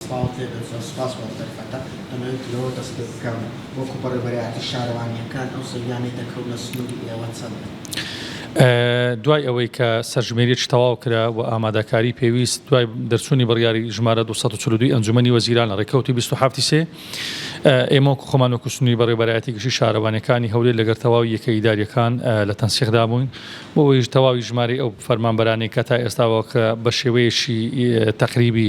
سڵاوت لێ بێت زۆر سوپاس بۆ ئەم دەرفەتە ئەمەوێت لەوە دەست پێ بکەم وەکو بەڕێوەبەرایەتی شارەوانییەکان ئەو سەویانەی دەکەونە سنوری ئێوە چەندن؟ دوای ئەوەی کە سەرژمێریی تەواو کرا و ئامادەکاری پێویست دوای دەرچوونی بڕیاری ژمارە دوو سەد و چل و دوو ی ئەنجوومەنی وەزیران لە ڕێکەوتی بیست و حەفت ی سێ ئێمە وەکوو خۆمان وەکوو سنووری بەڕێوەبەرایەتی گشتیی شارەوانییەکانی هەولێر لەگەڵ تەواوی یەکە ئیدارییەکان لە تەنسیقدا بووین بۆ ئەوەیش تەواوی ژمارەی ئەو فەرمانبەرانەی کە تا ئێستاوە کە بە شێوەیەکی تەقریبی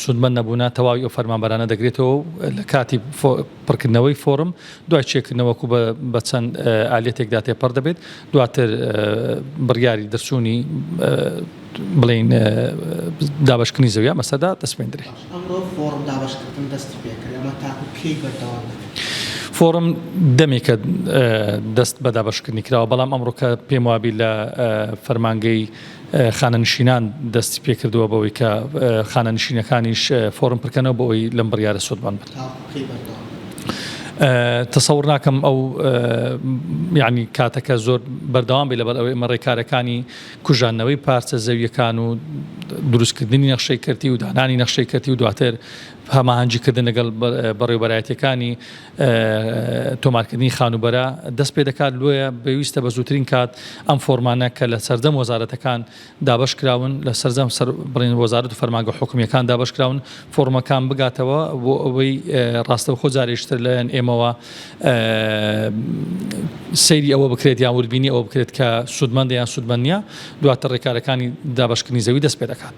سوودمەند نەبوونە تەواوی ئەو فەرمانبەرانە دەگرێتەوە و لە کاتی پڕکردنەوەی فۆڕم دوای چێکردنەوەک و بە چەند ئالیەتێکدا تێپەڕ دەبێت دواتر بڕیاری دەرچوونی بڵین دابشکنی زەویا مەسەدا دەسپێندرێت ئەمڕۆ فۆڕم دابشکردن دەستی پێکرد ئەمە تاکو کەی بەردەوام فۆڕم دەمێکە دەست بە دابشکردنی کراوە بەڵام ئەمڕۆکە پێم وابی لە فەرمانگەی خانەنشینان دەستی پێکردووە بەوەی کە خانەنشینەکانیش فۆرم پرکەنەوە بۆ ئەوی لەم بڕیارە سوودمەند بن. تەسەور ناکەم ئەو یعنی کاتەکە زۆر بەردەوام بێ لەبەر ئەوەی ئمە ڕێکارەکانی کوژانەوەی پارچە زەویەکان و دروستکردنی نەخشەی کەرتی و دانانی نەخشەی کەرتی و دواتر هەماهەنگیکردن لەگەڵ بەڕێوبەرایەتەکانی تۆمارکردنی خانووبەرە دەست پێ دەکات لۆیە بەویستە بە زووترین کات ئەم فۆرمانە کە لە سەردەم وەزارەتەکان دابش کراون لە سەررجەم سەر بڵێن وەزارت و فەرماگە حکومیەکان دابش کراون فۆرمەکان بگاتەوە بۆ ئەوەی ڕاستەو خۆ جارێشتر لەەن ئێمەوە سەیری ئەوە بکرێت یان وردبینی ئەوە بکرێت کە سوودمەندیان سوودمەنە دواتە ڕێکارەکانی دابشکردنی زەوی دەست پێ دەکات.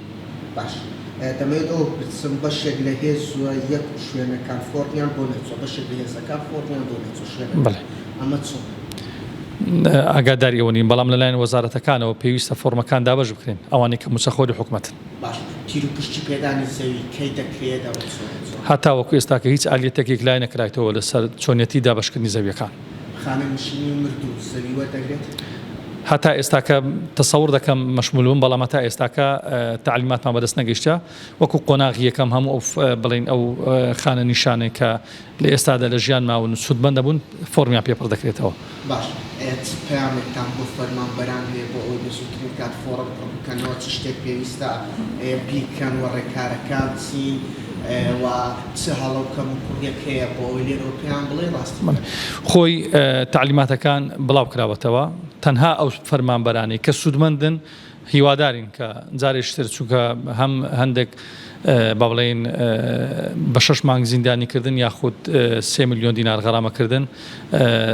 باش دەمەوێت ئەوە بپرسم بەشێک لە هێزوە یەک و شوێنەکان فۆرمیان بۆ نەچوە بەشێک لە هێزەکان فۆرمیان بۆ نەچوە شوێنەکان ئەمە چۆنە؟ ئاگاداری ئەوە نین بەڵام لەلایەن وەزارەتەکانەوە پێویستە فۆرمەکان دابەش بکرێن ئەوانەی کە موچەخۆری حکومەتن. باش تیروپشکی پێدانی زەوی کەی دەکرێت؟ هەتاوەکو ئێستاکە هیچ ئالیەتێک یەکلایی نەکرایتەوە لەسەر چۆنیەتی دابەشکردنی زەویەکان. خانەنشینی و مرد و زەوی وەردەگرێت؟ هەتا ئێستاکە تەسەور دەکەم مەشمول بم بەڵام هەتا ئێستاکە تعلیماتمان بەدەست نەگەیشتە وەکو قۆناغی یەکەم هەموو ئەو بڵین ئەو خانە نیشانێک کە لە ئێستادا لە ژیان ماون و سوودمەند دەبوون فۆرمیان پێپڕ دەکرێتەوە. باش چ پەیامێکتان بۆ فەرمانبەران هەیە بۆ ئەوەی بە زووترین کات فۆڕم پڕ بکەنەوە چ شتێک پێویستە بیکەن و ڕێکارەکان چین و چ هەڵە و کەم و کوڕیەک هەیە بۆ ئەوەی لێرەوە پێیان بڵێی ڕاستی بکەن؟ خۆی تەعلیماتەکان بڵاو کراوەتەوە، تەنها ئەو فەرمانبەرانەی کە سوودمەندن هیوادارین کە جارێکی تر چونکە هەم هەندێک با بڵێین بە شەش مانگ زیندانی کردن یاخود سێ ملیۆن دینار غەرامە کردن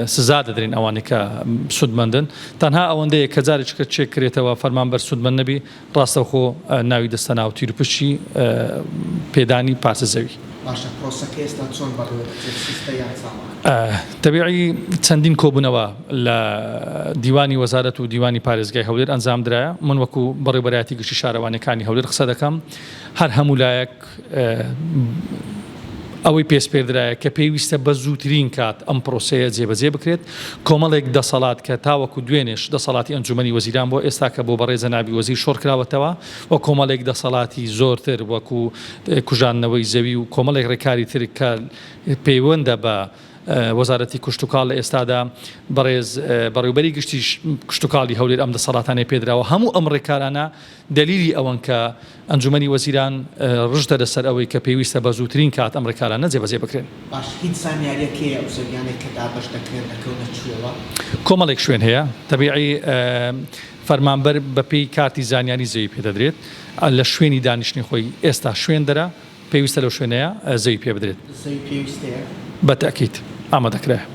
سزا دەدرێن ئەوانەی کە سوودمەندن تەنها ئەوەندەیە کە جارێکی کە چێک کرێتەوە فەرمانبەر سوودمەند نەبی ڕاستەوخۆ ناوی دەستەنا و تیروپشکی پێدانی پارچە زەوی. باشە پرۆسەکە ئێستا چۆن بەڕێوە دەچێت سستە یان ساڵانە؟ تەبعی چەندین کۆبوونەوە لە دیوانی وەزارەت و دیوانی پارێزگای هەولێر ئەنجامدرا، من وەکو بەڕێوبەرایەتی گشتی شارەوانیەکانی هەولێر قسە دەکەم، هەر هەموو لایەک، ئەوەی پێسپێردرایە کە پێویستە بە زووترین کات ئەم پرۆسەیە جێبەجێ بکرێت، کۆمەڵێک دەسەڵات کە تاوەکو دوێنێش دەسەڵاتی ئەنجوومەنی وەزیران بووە، ئێستاکە بۆ بەڕێ جەنابی وەزیر شۆڕکراوەتەوە و کۆمەڵێک دەسەڵاتی زۆرتر وەکو کوژاندنەوەی زەوی و کۆمەڵێک ڕێکاری تر کە پەیوەندە بە وەزارەتی کشتوکاڵ لە ئێستادا بەڕێز بەڕێوبەری گشتی کشتوکاڵی هەولێر ئەم دەسەڵاتانەی پێدراوە، هەموو ئەم ڕێکارانە دەلیلی ئەوەن کە ئەنجومەنی وەزیران رژدەدە سەر ئەوەی کە پێویستە بە زووترین کات ئەم رێکارانە جێبەجێ بکرێن. باش هیچ زانیاریەک هەیە ئەو زەویانەی کە دابەش دەکرێن دەکەونە کوێوە؟ کۆمەڵێک شوێن هەیە تەبیعی فەرمانبەر بە پێی کارتی زانیاری زەوی پێدەدرێت لە شوێنی دانیشتنی خۆی ئێستا شوێن دەرە پێویستە لەو شوێنەیە زەوی پێبدرێت. زەوی پێویستەیە؟ بە تەئکید ئامادەکرایە.